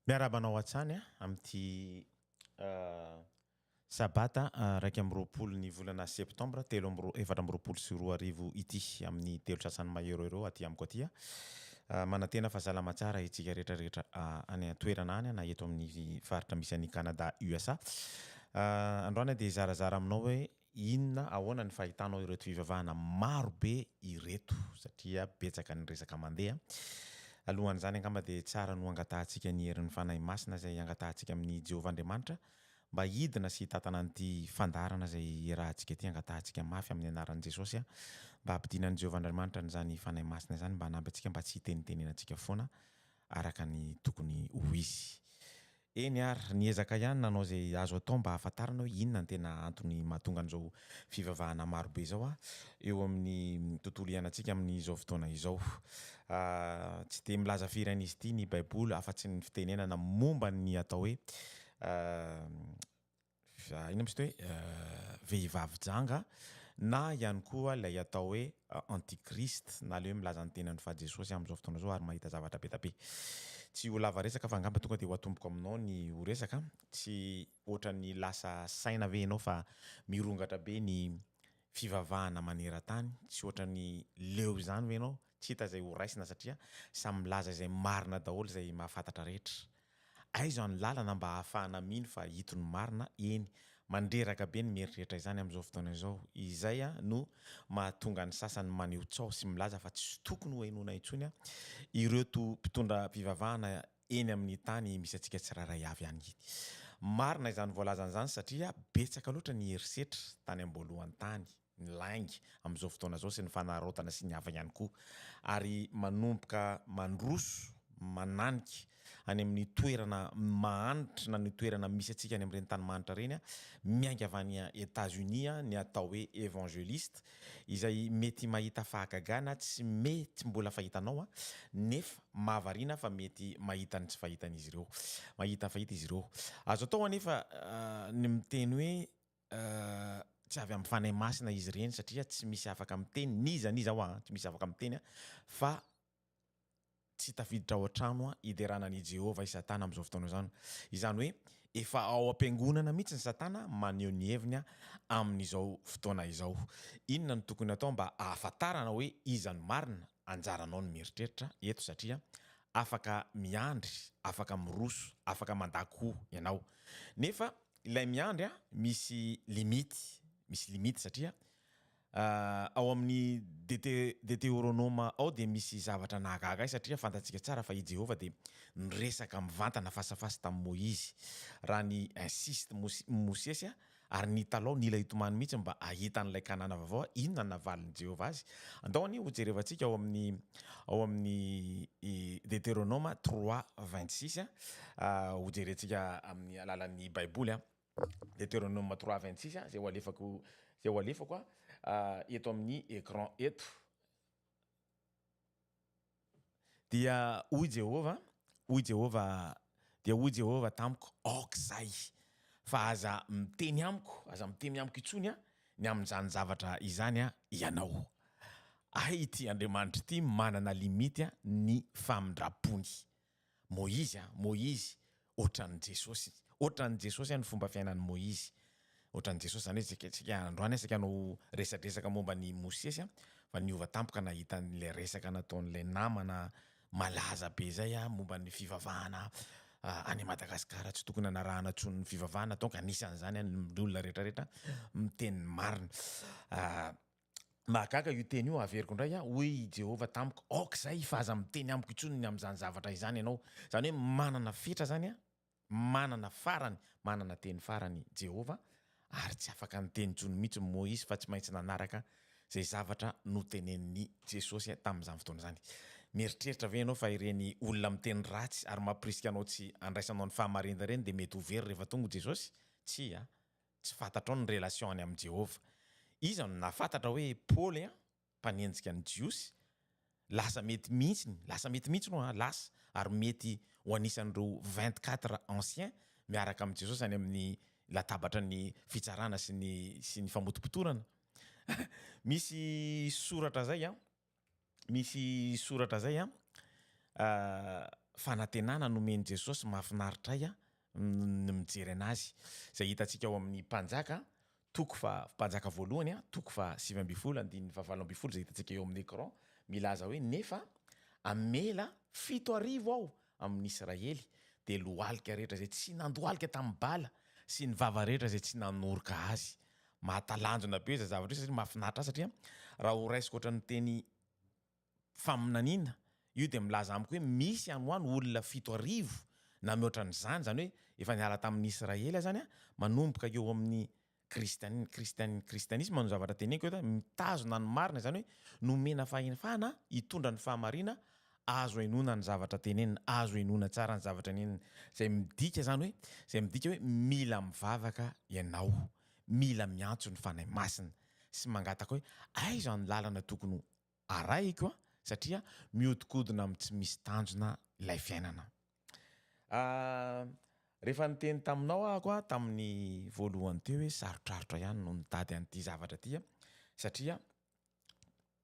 Miarahaba anao hatsany amin'ity sabata iraika amby roapolo ny volana septambra telo amby roa- efatra amby roapolo sy roa arivo ity, amin'ny telo sasany mahery eo aty amiko aty. Manantena fa salama tsara isika rehetra rehetra any an-toerana any na eto amin'ny faritra misy an'i Canada, USA. Androany aho dia hizarazara aminao hoe Inona, ahoana ny fahitanao ireto fivavahana maro be ireto? Satria betsaka ny resaka mandeha. Alohan'izany angamba dia tsara no hangatahantsika ny herin'ny Fanahy Masina izay hangatahantsika amin'i Jehovah Andriamanitra mba hidina sy hitantana an'ity fandaharana izay iarahantsika ity. Hangatahantsika mafy amin'ny anaran'i Jesosy mba hampidina an'i Jehovah Andriamanitra an'izany Fanahy Masina izany mba hanampy antsika mba tsy hitenitenena antsika foana araka ny tokony ho izy. Eny ary, niezaka ihany nanao izay azo atao mba hahafantarana hoe inona no tena antony mahatonga an'izao fivavahana maro be izao eo amin'ny tontolo iainantsika amin'izao fotoana izao. Tsy dia milaza firy an'izy ity ny Baiboly afa-tsy ny fitenenana momba ny atao hoe Fa inona moa izy ity hoe vehivavy janga na ihany koa ilay atao hoe anti-christ na ilay hoe milaza ny tenany fa Jesosy amin'izao fotoana izao ary mahita zavatra be dia be. Tsy ho lava resaka fa angamba tonga dia ho atomboko aminao ny ho resaka an! Tsy ohatran'ny lasa saina ve ianao fa mirongatra be ny fivavahana maneran-tany? Tsy ohatran'ny leo izany ve ianao? tsy hita izay ho raisina satria samy milaza izay marina daholo izay mahafantatra rehetra. Aiza ny lalana mba ahafahana mino fa ito ny marina, eny, mandreraka be ny mieritreritra izany amin'izao fotoana izao, izay no mahatonga ny sasany maneho tsaho sy milaza fa tsy tokony ho henoina intsony ireto mpitondram-pivavahana eny amin'ny tany misy antsika tsirairay avy any. Marina izany voalazany izany satria betsaka loatra ny herisetra tany am-boalohany tany. ny lainga amin'izao fotoana izao sy ny fanararaotana sy ny hafa ihany koa ary manomboka mandroso mananika any amin'ny toerana mahanitra na ny toerana misy antsika any amin'ireny tany mahanitra ireny miainga avy any Etazonia ny atao hoe Evangeliste izay mety mahita fahagagana tsy mety mbola fahitanao nefa mahavariana fa mety mahita ny tsy fahitan'izy ireo mahita fahita izy ireo azo atao anefa ny miteny hoe Tsy avy amin'ny Fanahy Masina izy ireny satria tsy misy afaka miteny, n'iza n'iza ho'a, tsy misy afaka miteny a, fa tsy tafiditra ao an-trano a, hiderana an'i Jehovah i Satana amin'izao fotoana izao. Izany hoe efa ao am-piangonana mihitsy ny Satana maneho ny heviny a, amin'izao fotoana izao. Inona no tokony hatao mba hahafantarana hoe iza no marina? Anjaranao ny mieritreritra eto satria afaka miandry, afaka miroso, afaka mandà koa ianao. Nefa ilay miandry a misy limite misy limite satria ao amin'ny DT Deteoronoma ao dia misy zavatra nahagaga ahy satria fantantsika tsara fa i Jehovah dia niresaka mivantana face à face tamin'i Moizy raha ny insiste Mosy- Mosesy a ary nitalaho nila hitomany mihitsy mba hahita an'ilay Kanana vaovao a inona no navalin'i Jehovah azy andao anie hojerevantsika ao amin'ny ao amin'ny i Deteoronoma 3 26 a hojerentsika amin'ny alalan'ny Baiboly. Deteronoma trois vingt six izay ho alefako izay ho alefako eto amin'ny écran eto. Dia hoy Jehovah, hoy Jehovah, dia hoy Jehovah tamiko, aoka izay, fa aza miteny amiko, aza miteny amiko intsony ny amin'izany zavatra izany ianao. Hay ity Andriamanitra ity manana limite ny famindram-pony. Moizy a, Moizy, ohatran'i Jesosy, ohatran'i Jesosy ny fomba fiainan'i Moizy, ohatran'i Jesosy, izany hoe isika, isika androany isika no resadresaka momba an'i Mosesy a, fa niova tampoka nahita an'ilay resaka nataon'ilay namana malaza be izay a, momba ny fivavahana any Madagasikara tsy tokony hanarahana intsony ny fivavahana donc anisan'izany a ny olona rehetra rehetra miteny ny marina. Mahagaga io teny io, averiko indray aho, hoy i Jehovah tamiko, Aoka izay hifa aza miteny amiko intsony ny amin'izany zavatra izany ianao. Izany hoe manana fetra izany an, manana farany, manana teny farany Jehovah, ary tsy afaka niteny intsony mihitsy Moizy fa tsy maintsy nanaraka izay zavatra notenenin'i Jesosy tamin'izany fotoana izany. Mieritreritra ve ianao fa ireny olona miteny ratsy ary mampirisika anao tsy handraisanao ny fahamarinana ireny dia mety ho very rehefa tonga i Jesosy? Tsia. Tsy fantatrao ny relation any amin'i Jehovah. Iza no nahafantatra hoe Paoly an, mpanenjika ny Jiosy, lasa mety mihitsy, lasa mety mihitsy no an, lasa, ary mety ho anisan'ireo vingt quatre anciens miaraka amin'i Jesosy any amin'ny latabatra ny fitsarana sy ny sy ny famotopotorana? Misy soratra zay an. Misy soratra zay an, fanantenana nomen'i Jesosy mahafinaritra ahy ny mijery anazy, izay hitantsika ao amin'ny Mpanjaka toko faha, Mpanjaka voalohany an, toko faha sivy ambin'ny folo andininy faha valo ambin'ny folo izay hitantsika eo amin'ny écran, milaza hoe, nefa hamela fito arivo aho amin' Israely, dia lohalika rehetra izay tsy nandohalika tamin' ny Bala, sy ny vava rehetra izay tsy nanoroka azy. Mahatalanjona be izay zavatra izay satria mahafinaritra ahy satria raha ho raisiko ohatran' ny teny faminaniana, io dia milaza amiko hoe misy any ho any olona fito arivo na mihoatra an' izany, izany hoe efa niala tamin' ny Israely aho izany an, manomboka eo amin' ny Kristianina, Kristianina, Kristianisma no zavatra teneniko eto, mitazona ny marina izany hoe nomena fahefana hitondra ny fahamarina, azo henoina ny zavatra tenenina, azo henoina tsara ny zavatra nenina, izay midika izany hoe, izay midika hoe mila mivavaka ianao, mila miantso ny Fanahy Masina sy mangataka hoe aiza ny lalana tokony ho. Arahiko an, satria mihodinkodina amin'ny tsy misy tanjona ilay fiainana. Ah, rehefa niteny taminao ahako an, tamin'ny voalohany teo hoe sarotrarotra ihany no nitady an'ity zavatra ity an, satria,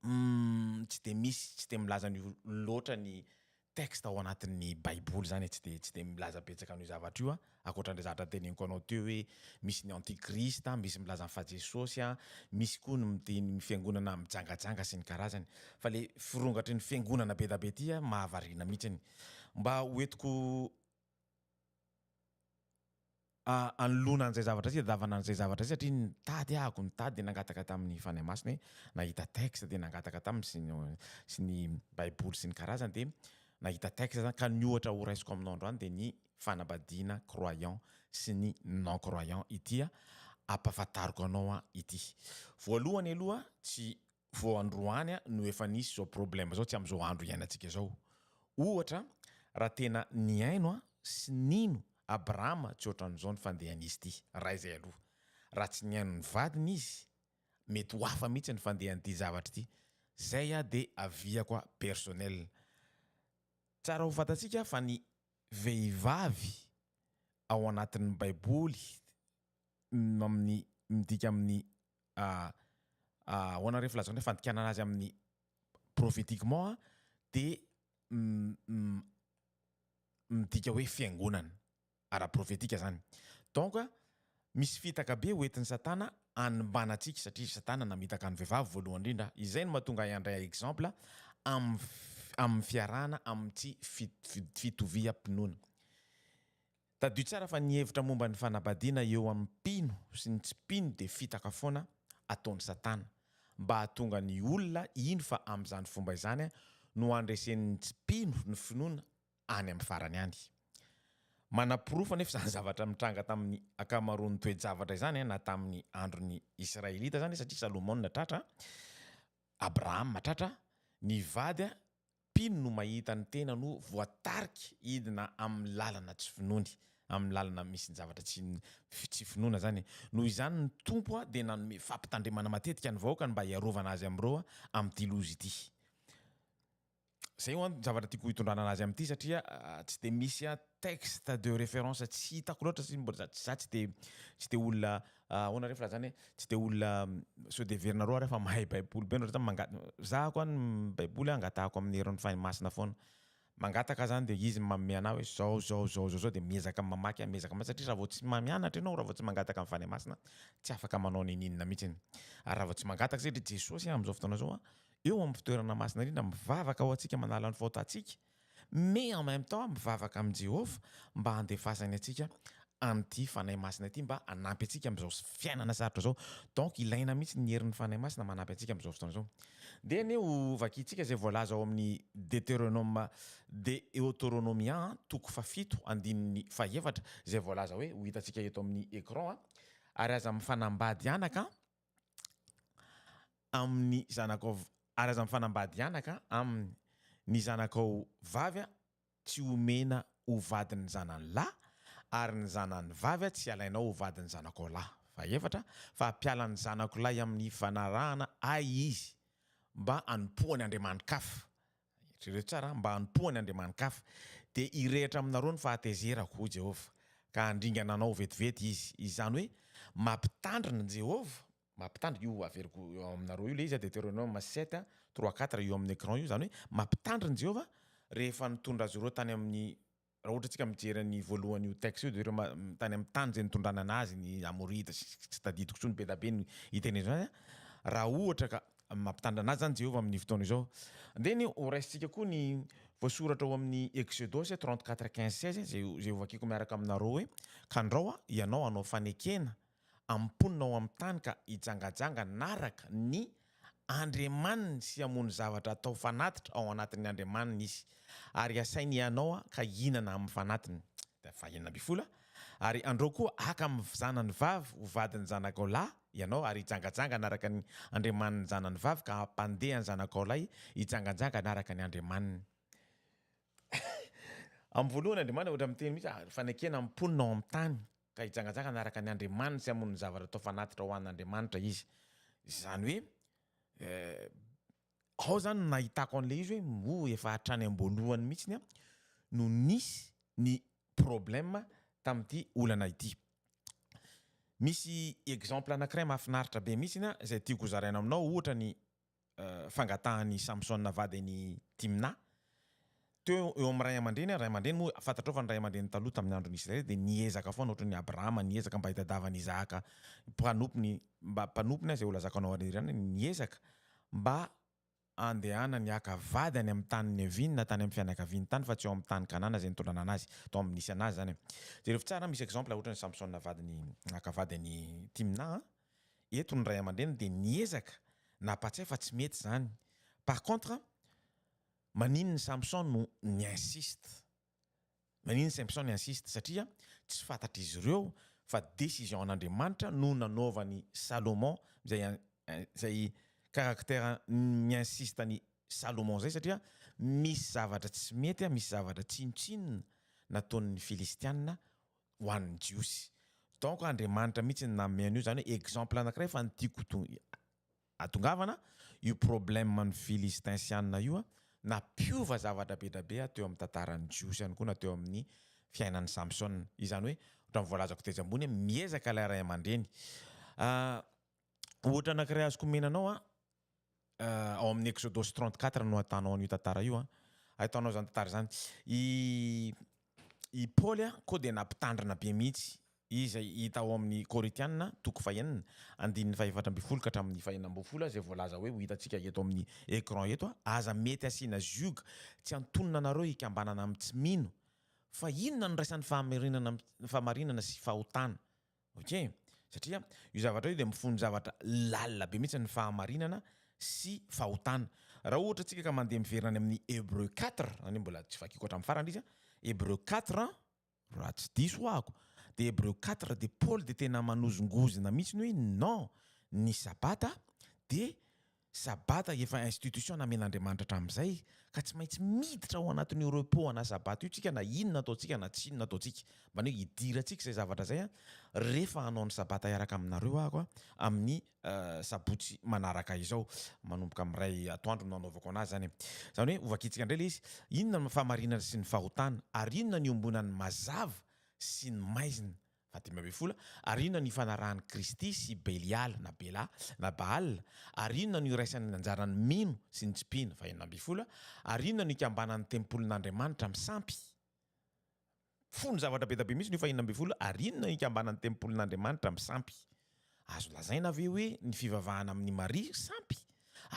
umm, tsy dia misy, tsy dia milaza an'io loatra ny texte ao anatin'ny baiboly zany e, tsy de tsy de milaza betsaka an'io zavatra io a, ankoatran'le zavatra teneniko anao teo hoe misy ny antichrist a, misy milaza fa Jesosy a, misy koa ny miteny ny fiangonana mijangajanga sy ny karazany. Fa le firongatry ny fiangonana be da be ty a mahavariana mihitsiny. Mba ho entiko hanoloana an'izay zavatra izay, hitadiavana an'izay zavatra izay satria nitady ahako, nitady dia nangataka tamin'ny Fanahy Masina hoe nahita texte dia nangataka taminy sy ny sy ny baiboly sy ny karazany dia nahita texte zany ka ny ohatra horaisiko aminao androany dia ny fanambadiana croyant sy ny non croyant ity ampahafantariko anao ity. Voalohany aloha tsy vao androany no efa nisy izao problème izao tsy amin'izao andro iainantsika izao. Ohatra raha tena nihaino sy nino Abrahama tsy ohatran'izao ny fandehan'izy ity raha izay aloha. Raha tsy nihaino ny vadiny izy mety ho hafa mihitsy ny fandehan'ity zavatra ity. Izay aho dia aviako aho personnel. Tsara ho fantatsika fa ny vehivavy ao anatin'ny baiboly amin'ny midika amin'ny ahoana re ny filazako ny fandikanana azy amin'ny prophétiquement a de midika hoe fiangonana ara prophétique zany donc a misy fitaka be ho entin'i satana hanimbana antsika satria satana namitaka ny vehivavy voalohany indrindra izay no mahatonga ahy handray exemple amin'ny amin'ny fiarahana amin'ny tsy fitoviam-pinoana Tadidio tsara fa ny hevitra momba ny fanabadiana eo amin'ny mpino sy ny tsy mpino dia fitaka foana ataon'i Satana mba hahatonga ny olona hino fa amin'izany fomba izany no handresen'ny tsy mpino ny finoana any amin'ny farany any. Manaporofo anefa izany zavatra mitranga tamin'ny ankamaroan'ny toe-javatra izany na tamin'ny andron'ny Israelita izany satria Salomona tratra, Abrahama tratra, ny vady Mpino no mahita ny tenany ho voatarika hidina amin'ny lalana tsy finoany, amin'ny lalana misy ny zavatra tsy tsy finoana izany e. Noho izany ny Tompo dia nanome fampitandremana matetika ny vahoakany mba hiarovana azy amin'ireo amin'ity loza ity. Izay ho'a ny zavatra tiako hitondrana an'azy amin'ity satria tsy dia misy texte de référence tsy hitako loatra, za tsy dia tsy dia olona Ahoana re fa raha zany hoe tsy dia olona sao dia heverinareo ary aho fa mahay baiboly be ohatrany manga- zahako any ny baiboly angatahako amin'ny herin'ny fanahy masina foana mangataka zany dia izy no manome anahy hoe zao zao zao zao dia miezaka mamaky aho miezaka mamaky satria raha vao tsy mahay mianatra ianao raha vao tsy mangataka ny fanahy masina tsy afaka manao ninininona mihitsy ary raha vao tsy mangataka satria jesosy amin'izao fotoana izao eo amin'ny fitoerana masina indrindra mivavaka ho antsika manala ny faotantsika mais en même temps mivavaka amin'i Jehovah mba handefasany antsika an'ity Fanahy Masina ity mba hanampy antsika amin'izao fiainana sarotra izao. Donc ilaina mihitsy ny herin'ny Fanahy Masina manampy antsika amin'izao fotoana izao. Dia anie ho vakintsika izay voalaza ao amin'ny Deteronoma, Deotoronomia, toko fahafito, andininy fahefatra, izay voalaza hoe, ho hitantsika eto amin'ny écran a. Ary aza mifanambady anaka an! amin'ny zanakao araza mifanambady anaka aminy ny zanakao vavy tsy homena ho vadin'ny zanany lahy ary ny zanany vavy tsy alainao ho vadin'ny zanakao lahy fahefatra fa hampiala ny zanako lahy amin'ny fanarahana ahy izy mba hanompoany andriamani-kafa Eritrereto tsara, mba hanompoany andriamani-kafa, dia hirehitra aminareo ny fahatezerako, hoy Jehovah, ka handringana anao vetivety izy. Izany hoe mampitandrina Jehovah, mampitandrina, io averiko eo aminareo io ilay izy a, Deteronome sept, trois, quatre, io amin'ny écran io, izany hoe mampitandrina Jehovah rehefa nitondra azy ireo tany amin'ny. Raha ohatra tsika mijery an'i voalohany io texte io de ireo tany amin'ny tany zay nitondrana anazy ny amorita sy tsy tadidiko tsony be da be ny itenezo azy raha ohatra ka mampitandra anazy zany Jehovah amin'ny fotoana izao de ny ho raisintsika koa ny voasoratra ao amin'ny Exodosy trente quatre quinze seize zay zay hovakiko miaraka aminareo hoe kandrao aho ianao hanao fanekena amin'ny mponina ao amin'ny tany ka hijangajanga anaraka ny Andriamaniny sy hamono zavatra atao fanatitra ao anatin'ny Andriamaniny izy, ary hasainy hianao ka hihinana amin'ny fanatiny, dia vahina mpifoly aho, ary andrao koa haka amin'ny zanany vavy ho vadin'ny zanakao lahy ianao, ary hijangajanga anaraka ny Andriamaniny zanany vavy ka hampandeha ny zanakao lahy hijangajanga anaraka ny Andriamaniny. Amin'ny voalohany Andriamaniny ohatra miteny mihitsy fanekena amin'ny mponina ao amin'ny tany ka hijangajangana araka ny andriamaniny sy hamono ny zavatra atao fanatitra ho an'Andriamanitra izy. Izany hoe eh, ao zany nahitako an'ilay izy hoe oh, efa hatrany am-boalohany mihitsiny no nisy ny problème tamin'ity olana ity. Misy exemple anankiray mahafinaritra be mihitsy izay tiako hozaraina aminao, ohatra ny fangatahan'i Samsona vady an'i Timna. Teo eo amin'ny ray aman-dreny ary ray aman-dreny moa fantatrao fa ny ray aman-dreny taloha tamin'ny andron'i Israely dia niezaka foana ohatran'i Abrahama niezaka mba hitadiavany Isahaka mpanompony mba mpanompony aza eo lazako anao ary irany niezaka mba andehanany haka vady any amin'ny tany niaviany na tany amin'ny fianakaviany tany fa tsy eo amin'ny tany Kanana izay nitondra an'anazy tao amin'ny nisy anazy izany. Jereo tsara misy exemple ohatran'i Samsona vadiny haka vady an'i Timna. Eto ny ray aman-dreny dia miezaka na hampatsiahy fa tsy mety izany. Par contre, maninona Samson no ni insiste? Maninona Samson ni insiste? Satria tsy fantatr'izy ireo fa décision an'Andriamanitra no nanaovany Salomon izay izay caractère mi insiste an'i Salomon izay satria misy zavatra tsy mety, misy zavatra tsinontsinona nataon'ny Filistiana ho an'ny jiosy donc Andriamanitra mihitsy no nanome an'io izany hoe exemple anakiray fa ny tiako hatongavana io problème ny filistinsianina io nampiova zavatra be dia be teo amin'ny tantaran'ny jiosy ihany koa na teo amin'ny fiainan'i Samsona izany hoe ohatran'ny voalazako tetsy ambony hoe miezaka ilay ray aman-dreny ohatra anakiray azoko omena anao ao amin'ny Exodosy trente quatre no ahitanao an'io tantara io an, ahitanao izany tantara izany. I i Paoly koa dia nampitandrina be mihitsy izay hita ao amin'ny Korintiana toko fahenina andininy fahefatra ambin'ny folo ka hatramin'ny fahenina ambin'ny folo izay voalaza hoe ho hitantsika eto amin'ny écran eto an, aza mety asiana ziog, tsy antonona anareo hikambanana amin'ny tsy mino, fa inona no iraisan'ny fahamarinana sy fahotana Ok, satria io zavatra io dia mifono zavatra lalina be mihitsy ny fahamarinana sy fahotana. Raha ohatra tsika ka mandeha miverina any amin'ny Hébreux quatre, zany hoe mbola tsy vakiko hatramin'ny farany izy a, Hébreux quatre raha tsy diso ahako, dia Hébreux quatre dia Paoly dia tena manozongozona mihitsy ny hoe non, ny sabata dia Sabata efa institution namen'Andriamanitra hatramin'izay ka tsy maintsy miditra ao anatin'io repos ana sabata io tsika na inona ataontsika na tsinona ataontsika mbany hoe idirantsika izay zavatra izay an refa hanao ny sabata hiaraka aminareo aho an amin'ny sabotsy manaraka izao manomboka amin'ny iray atoandro no hanaovako anazy zany e zany hoe hovakintsika indray le izy inona ny fahamarinana sy ny fahotana ary inona ny iombonan'ny mazava sy ny maizina Fahadimy ambin'ny folo, Ary inona no ifanarahan'i Kristy sy Beliala na Bela na Baal? Ary inona no iraisany ny anjaran'ny mino sy ny tsy mpino? Fahenina ambin'ny folo, Ary inona no ikambanan'ny tempolin'Andriamanitra amin'ny sampy? Fony zavatra be dia be mihitsy io fahenina ambin'ny folo, Ary inona no ikambanan'ny tempolin'Andriamanitra amin'ny sampy? Azo lazaina ve hoe ny fivavahana amin'i Maria sampy?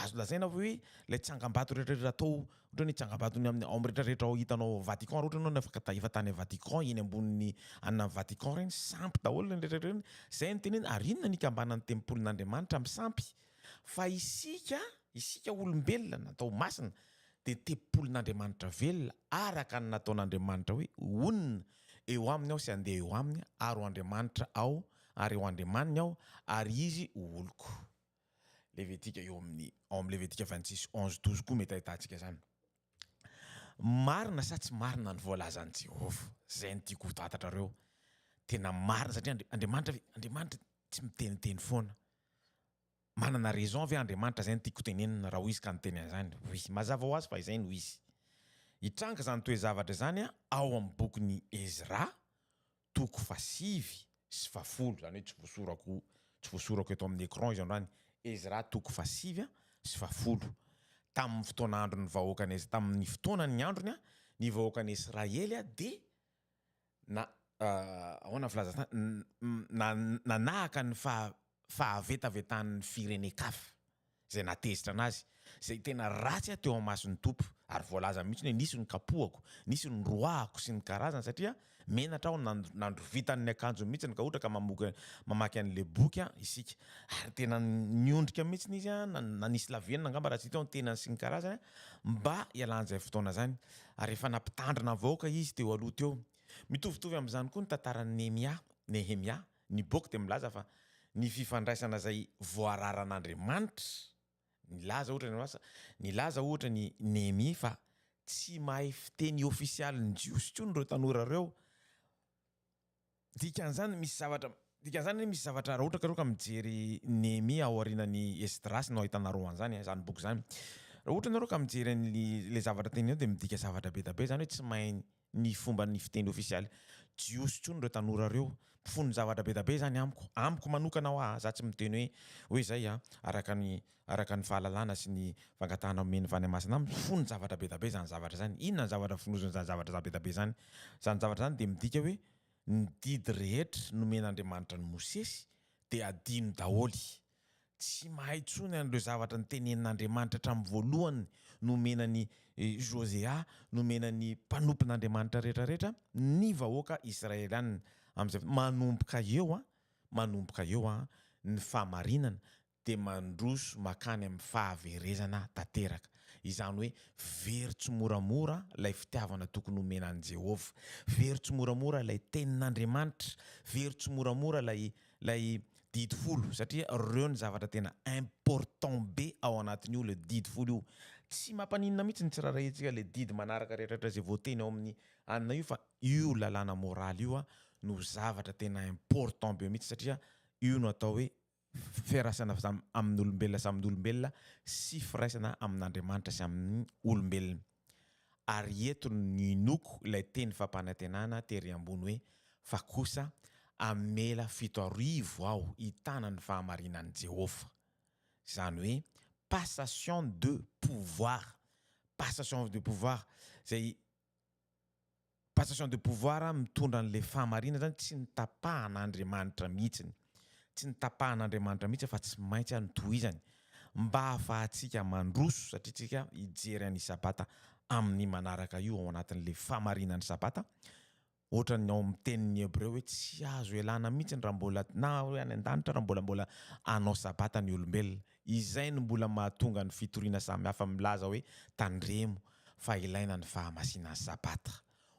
Azo lazaina ve hoe ilay tsangambato rehetrarehetra atao, ohatra ny tsangambaton'ny amin'ny ao amin'ny rehetrarehetra ao hitanao ao Vatican raha ohatra ianao no afaka efa tany Vatican eny ambonin'ny anona Vatican ireny sampy daholo ireny rehetrarehetra ireny? Izay no tenenina ary inona no ikambanan'ny tempolin'Andriamanitra amin'ny sampy? Fa isika, isika olombelona na atao masina dia tempolin'Andriamanitra velona araka ny nataon'Andriamanitra hoe honina eo aminy aho sy handeha eo aminy ary ho Andriamanitra aho Ary ho Andriamaniny aho, ary izy ho oloko. Levitika eo amin'ny ao amin'ny Levitika vingt six onze douze koa mety ahitantsika izany. Marina sa tsy marina ny voalazan'i Jehovah? Izay no tiako hotantatrareo. Tena marina satria Andri- Andriamanitra ve? Andriamanitra tsy miteniteny foana. Manana raison ve Andriamanitra? Izay no tiako tenenina raha hoy izy ka niteny an'izany. Oui, mazava ho azy fa izay no izy. Hitranga izany toe-zavatra izany ao amin'ny bokin'i Ezra toko fahasivy sy fahafolo, izany hoe tsy voasorako tsy voasorako eto amin'ny écran izy androany, Ezra toko fahasivy a sy fahafolo. Tamin'ny fotoana andron'ny vahoakan'i Es-, tamin'ny fotoana ny androny a, ny vahoakan'i Esraely a dia na- ahoana ny filazantany, na- nanahaka ny faha- fahavetavetan'ny firenen-kafa izay nahatezitra anazy, izay tena ratsy aho teo amason'ny Tompo, ary voalaza mihitsy hoe nisy ny kapohako, nisy ny roahako sy ny karazany, satria menatra aho nandrovitany ny akanjony mihitsy, ka ohatra ka mamoky mamaky an'ilay boky isika, ary tena niondrika mihitsy izy, nanisy lavenona angamba raha tsy teo ny tenany sy ny karazany, mba hialan'izay fotoana izany, ary efa nampitandrina ny vahoaka izy teo aloha teo. Mitovitovy amin'izany koa ny tantaran'i Nehemia, Nehemia, Ny boky dia milaza fa ny fifandraisana izay voararan'Andriamanitra, nilaza ohatra ny asa, nilaza ohatra ny Nehemia fa tsy mahay fiteny ofisialin'ny Jiosy intsony ireo tanora ireo, dikan'izany misy zavatra, dikan'izany hoe misy zavatra raha ohatra ka ireo ka mijery Nehemia ao aorianan'i Esdrasy no ahitanareo an'izany eh, izany boky izany, raha ohatra ianareo ka mijery an'ilay zavatra teneniny eo dia midika zavatra be dia be izany hoe tsy mahay ny fomba ny fiteny ofisialy jiosy tsony ireo tanora ireo mpifono zavatra be da be zany amiko amiko manokana hoa a za tsy miteny hoe hoe zay a araka ny araka ny fahalalana sy ny fangatahana omen'ny vany masina amiko mpifono zavatra be da be zany zavatra zany inona ny zavatra fonozin'ny zany zavatra za be da be zany zany zavatra zany dia midika hoe ny didy rehetra nomen'andriamanitra an'i mosesy dia adino daholo Tsy mahay intsony an'ireo zavatra notenenin'Andriamanitra hatramin'ny voalohany nomena an'i Josea, nomena ny mpanompon'Andriamanitra rehetra rehetra, ny vahoaka Israelianina. Amin'izay, manomboka eo, manomboka eo ny fahamarinana dia mandroso makany amin'ny fahaverezana tanteraka. Izany hoe very tsimoramora ilay fitiavana tokony homena an'i Jehovah, very tsimoramora ilay Tenin'Andriamanitra, very tsimoramora ilay ilay didy folo satria reo ny zavatra tena important be ao anatin io le didy folo io tsy mampaninona mitsy ny tsirarahintsika le didy manaraka retraretra zay voateny ao aminy anina io fa io lalàna moraly io a no zavatra tena important be mitsy satria io no atao hoe firaisana aminy olombelona sy aminy olombelona sy firaisana amin Andriamanitra sy aminy olombelona. Ary eto no inoako ilay teny fampanantenana tery ambony hoe, Fa kosa, hamela fito arivo aho hitana ny fahamarinan'i Jehovah. Izany hoe passation de pouvoir. Passation de pouvoir, izay. Passation de pouvoir mitondra an'ilay fahamarinana zany tsy ny tapahan'Andriamanitra mihitsiny, tsy ny tapahan'Andriamanitra mihitsy fa tsy maintsy no tohizany mba hahafahantsika mandroso satria tsika hijery an'i Sabata amin'ny manaraka io ao anatin'ilay fahamarinan'i Sabata ohatran'ny ao amin'ny tenin'ny Hebreo hoe tsy azo ialana mihitsy raha mbola na hoe any an-danitra raha mbola mbola hanao Sabata ny olombelona. Izay no mbola mahatonga ny fitoriana samihafa milaza hoe tandremo fa ilaina ny fahamasinan'ny Sabata.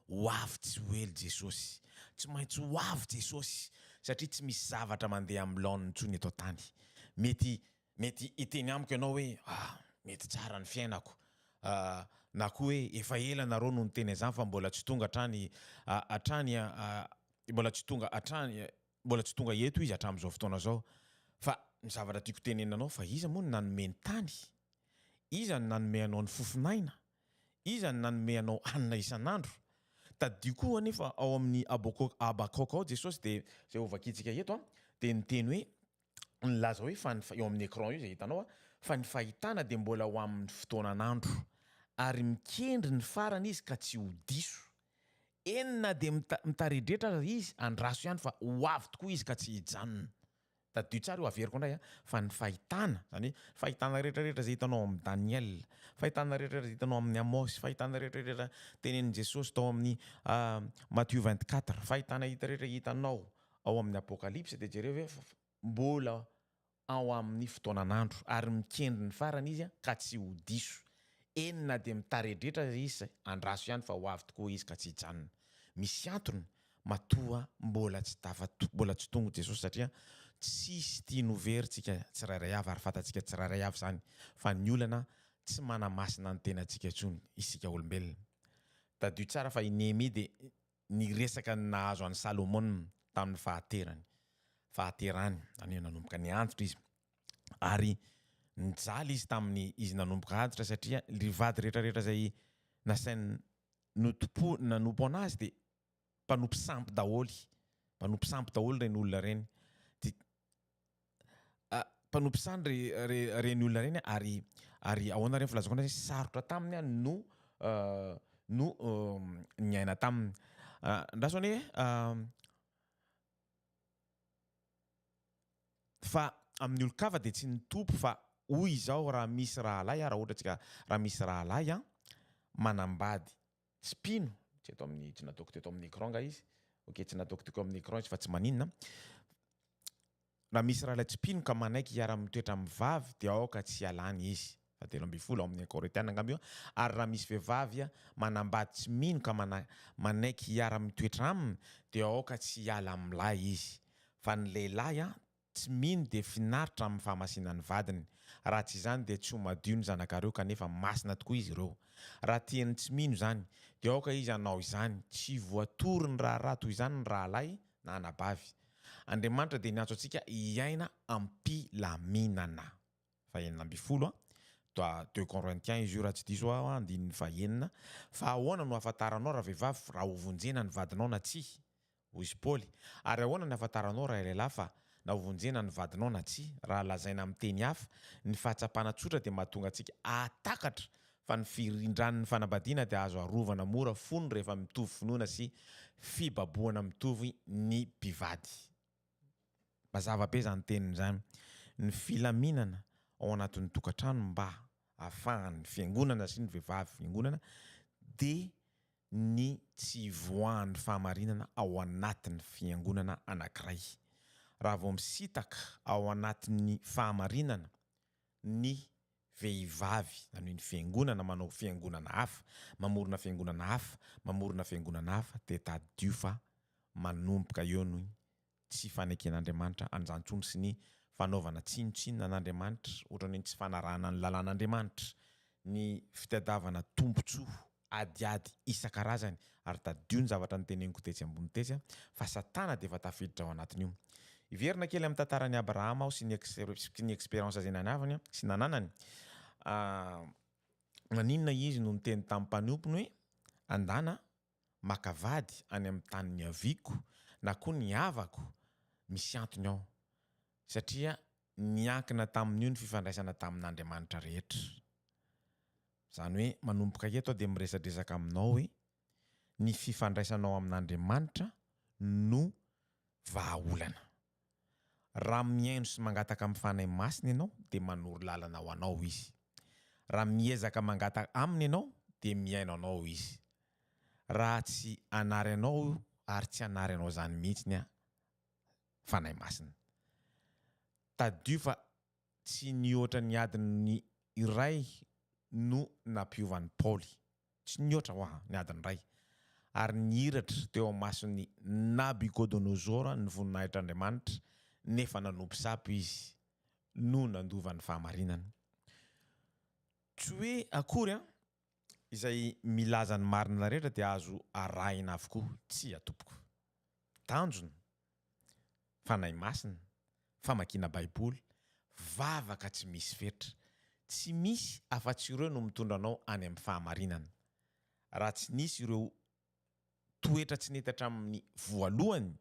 Ho avy tsy ho ela Jesosy. Tsy maintsy ho avy Jesosy satria tsy misy zavatra mandeha amin'ny laoniny intsony eto an-tany. Mety, mety hiteny amiko ianao hoe, Ah, mety tsara ny fiainako. Ah, na koa hoe, Efa ela ianareo no niteny an'izany fa mbola tsy tonga hatrany, ah, hatrany, ah, mbola tsy tonga hatrany, Mbola tsy tonga eto izy hatramin'izao fotoana izao. Fa ny zavatra tiako tenenina anao fa iza moa no nanome ny tany? Iza no nanome anao ny fofon'aina? Iza no nanome anao hanina isan'andro? Tadidio koa anefa ao amin'ny Habakok, Habakkuk, ao Jesosy dia izay hovakiantsika eto dia niteny hoe nilaza hoe fa ny, eo amin'ny écran io izay hitanao a, fa ny fahitana dia mbola ho amin'ny fotoanan'andro ary mikendry ny farany izy ka tsy ho diso. Eny na dia mita, mitaredretra aza izy, andraso ihany fa ho avy tokoa izy ka tsy hijanona. Tadidio tsara io, averiko indray a, fa ny fahitana, izany hoe fahitana rehetrarehetra izay hitanao ao amin'ny Daniela, fahitana rehetrarehetra izay hitanao amin'ny Amosy, fahitana rehetrarehetra tenenin'i Jesosy tao amin'ny Matthieu vingt quatre, fahitana hita rehetra hitanao Ao amin'ny Apokalypsy dia jereo ve fa mbola ao amin'ny fotoanan'andro ary mikendry ny farany izy ka tsy ho diso. Eny na dia mitaredretra aza izy, andraso ihany fa ho avy tokoa izy ka tsy hijanona. Misy antony matoa mbola tsy tafa mbola tsy tonga Jesosy satria tsisy tiany ho very tsika tsirairay avy ary fantatsika tsirairay avy izany fa ny olana tsy manamasina ny tenantsika intsony isika olombelona. Tadidio tsara fa i Nehemia dia ny resaka nahazo an'i Salomona tamin'ny fahaterany, fahaterany, izany hoe nanomboka niantsotra izy, ary nijaly izy tamin'ny izy nanomboka antitra, satria ry vady rehetra rehetra izay nasainy notompo, nanompo anazy dia mpanompo sampy daholo, mpanompo sampy daholo ireny olona ireny, dia. mpanompo saha ny reny olona reny ary ary ahoana reny filazako anay sarotra taminy no no niaina taminy andraso anie fa amin'ny olon-kafa dia tsy nitompo fa hoy izao raha misy rahalahy raha ohatra tsika raha misy rahalahy manambady tsy mpino tsy eto amin'ny tsy nataoko teto amin'ny écran nga izy ok tsy nataoko teko amin'ny écran izy fa tsy maninona raha misy rahalahy tsy mpino ka manaiky hiara mitoetra amin'ny vavy dia aoka tsy hialany izy fa telo ambin'ny folo ao amin'ny Korinthiana angamba io ary raha misy vehivavy manambady tsy mino ka mana, manaiky hiara mitoetra aminy dia aoka tsy hiala amin'ilay izy fa ny lehilahy Tsy mino dia finaritra amin'ny fahamasinan'ny vadiny. Raha tsy izany dia tsy ho madio ny zanakareo kanefa masina tokoa izy ireo. Raha tian'ny tsy mino izany, dia aoka izy hanao izany. Tsy voatory ny raharaha toy izany ny rahalahy na anabavy. Andriamanitra dia niantso antsika hiaina am-pilaminana. Fahenina ambin'ny folo, Toa Deux Corinthiens izy io raha tsy diso aho, andininy fahenina. Fa ahoana no ahafantaranao ravehivavy raha hovonjena ny vadinao na tsia? Hoy izy Paoly, Ary ahoana ny hahafantaranao ray lehilahy fa na hovonjena ny vadinao na tsia? Raha lazaina amin'ny teny hafa, ny fahatsapana tsotra dia mahatonga antsika hahatakatra fa ny firindran'ny fanambadiana dia azo arovana mora fony rehefa mitovy finoana sy fibabohana mitovy ny mpivady. Mazava be izany teniny izany. Ny filaminana ao anatin'ny tokantrano mba ahafahan'ny fiangonana sy ny vehivavy fiangonana dia ny tsy hivoahan'ny fahamarinana ao anatin'ny fiangonana anankiray. Raha vao misintaka ao anatin'ny fahamarinana ny vehivavy, na ny fiangonana manao fiangonana hafa, mamorona fiangonana hafa, mamorona fiangonana hafa, dia tadidio fa manomboka eo ny tsy faneken'Andriamanitra an'izany intsony sy ny fanaovana tsinontsinona an'Andriamanitra ohatran'ny hoe tsy fanarahana ny lalàn'Andriamanitra, ny fitadiavana tombontsoa adiady isan-karazany, ary tadidio ny zavatra noteneniko tetsy ambony tetsy fa Satana dia efa tafiditra ao anatin'io. Hiverina kely amin'ny tantaran'i Abrahama aho sy ny sy ny expérience izay nanavany sy nananany, maninona izy no niteny tamin'ny mpanompony hoe andana maka vady any amin'ny tany niaviako na koa ny havako misy antony ao, satria niankina tamin'io ny fifandraisana tamin'Andriamanitra rehetra. Izany hoe manomboka eto aho dia miresadresaka aminao hoe ny fifandraisanao amin'Andriamanitra no vahaolana. Raha mihaino sy mangataka amin'ny Fanahy Masina ianao, dia manoro lalana ho anao Izy. Raha miezaka mangataka Aminy ianao, dia mihaino anao Izy. Raha tsy hanary anao ary tsy hanary anao izany mihitsy ny Fanahy Masina. Tadidio fa Tsy nihoatra ny adiny iray no nampiovan'i Paoly. Tsy nihoatra, ho'a, ny adiny iray. Ary nihiratra teo imason'i Nabukodonozora ny voninahitr'Andriamanitra, nefa nanompo sapo izy, no nandova ny fahamarinana. Tsy hoe akory an! izay milaza ny marina rehetra dia azo arahina avokoa. Tsia, tompoko. Tanjona, Fanahy Masina, famakiana Baiboly, vavaka tsy misy fetra. Tsy misy afa-tsy ireo no mitondra anao any amin'ny fahamarinana. Raha tsy nisy ireo toetra tsy nety hatramin'ny voalohany,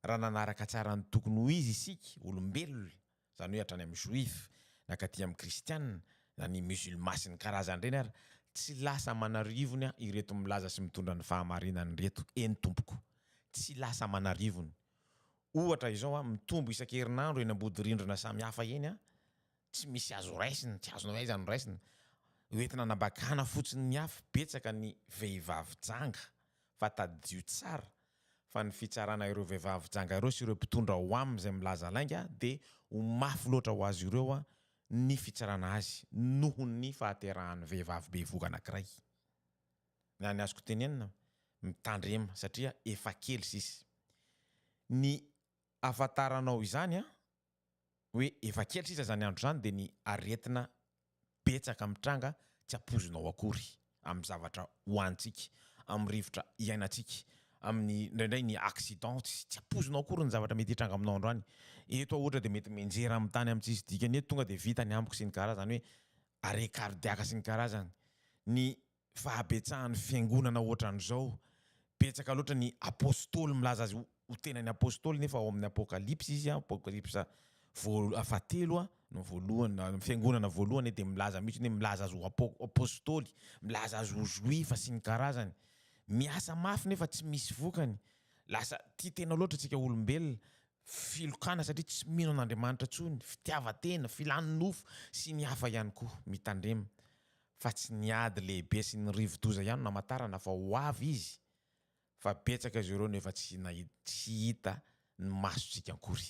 raha nanaraka tsara ny tokony ho izy isika olombelona, izany hoe hatrany amin'ny Joifa nakaty amin'ny Kristiana na ny Musulman sy ny karazany ireny ary tsy lasa manarivony ireto milaza sy mitondra ny fahamarinana ireto eny tompoko tsy lasa manarivony ohatra izao mitombo isan-kerinandro eny ambody rindrina samihafa eny Tsy misy azo raisina, tsy azonao aiza no raisina. Hoentina anabakana fotsiny ny afo, betsaka ny vehivavy janga fa tadidio tsara fa ny fitsarana ireo vehivavy janga ireo sy ireo mpitondra ao aminy izay milaza lainga dia ho mafy loatra ho azy ireo ny fitsarana azy noho ny fahaterahan'ny vehivavy bevohoka anankiray. Na ny azoko tenenina, mitandrema satria efa kely sisa. Ny ahafantaranao izany an, hoe efa kely sisa izany andro izany dia ny aretina betsaka mitranga tsy ampoizinao akory amin'ny zavatra hohanintsika, amin'ny rivotra iainantsika, amin'ny indraindray ny accident tsy tsy ampoizinao akory ny zavatra mety hitranga aminao androany. Eto aho ohatra dia mety mianjera amin'ny tany amin'ny tsisy dikany eto tonga dia vita ny amiko sy ny karazany hoe arrêt cardiaque sy ny karazany. Ny fahabetsahan'ny fiangonana ohatran'izao, betsaka loatra ny apostoly milaza azy ho tena ny apostoly nefa ao amin'ny apokalypsy izy an, apokalypsa voalo- fahatelo an, no voalohany na ny fiangonana voalohany dia milaza mihitsy hoe milaza azy ho apo- apostoly, milaza azy ho zoifa sy ny karazany. Miasa mafy nefa tsy misy vokany, lasa tia tena loatra isika olombelona filokana satria tsy mino an'Andriamanitra intsony, fitiavan-tena, filan-nofo sy ny hafa ihany koa. Mitandrema fa tsy ny ady lehibe sy ny rivo-doza ihany no hamantarana fa ho avy Izy fa betsaka izy ireo no efa tsy tsy hita ny masontsika akory.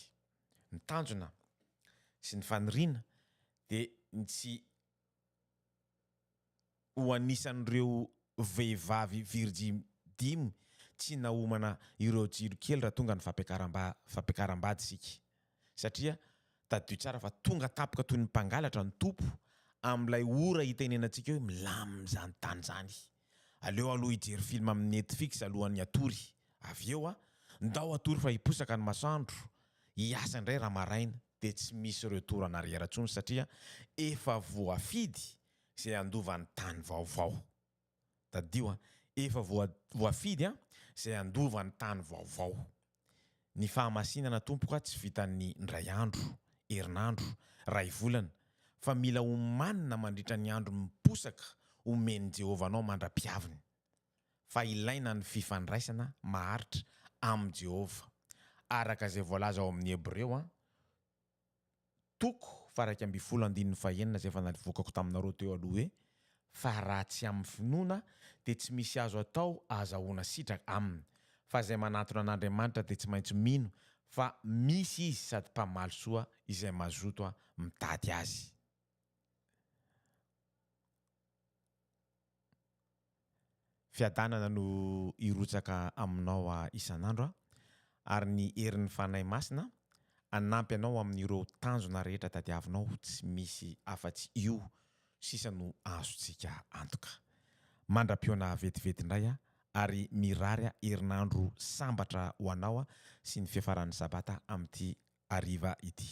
Ny tanjona sy ny faniriana dia ny tsy ho anisan'ireo vehivavy virjiny dimy tsy nahomana ireo jiro kely raha tonga ny fampiakaram-bady isika satria tadidio tsara fa tonga tampoka toy ny mpangalatra ny Tompo amin'ilay ora itenenantsika hoe milamina izany tany izany. Aleo aloha hijery film amin'ny Netfix alohan'ny hatory. Avy eo an! Ndao hatory fa hiposaka ny masoandro hiasa indray raha maraina dia tsy misy retour en arrière intsony satria efa voafidy izay handova ny tany vaovao. Tadidio an! Efa voafidy an! izay handova ny tany vaovao. Ny fahamasinana tompoko an! tsy vitan'ny indray andro, herinandro, iray volana fa mila omanina mandritra ny andro miposaka omen'i Jehovah anao mandra-piaviny. fa ilaina ny fifandraisana maharitra amin'i Jehovah, araka izay voalaza ao amin'ny Hebreo an, toko faha-iraika ambin'ny folo andininy fahenina, izay efa nalvokako taminareo teo aloha hoe, Fa raha tsy amin'ny finoana, dia tsy misy azo atao ahazahoana sitraka aminy. Fa izay manantona an'Andriamanitra dia tsy maintsy mino fa misy izy sady mpamaly soa izay mazotoa mitady azy. Fiadanana no hirotsaka aminao isan'andro aho, ary ny herin'ny Fanahy Masina hanampy anao amin'ireo tanjona rehetra tadiavinao, tsy misy afa-tsy io sisa no azontsika antoka. Mandra-pihaona vetivety indray aho, ary mirary herinandro sambatra ho anao sy ny fiafaran'ny Sabata amin'ity hariva ity.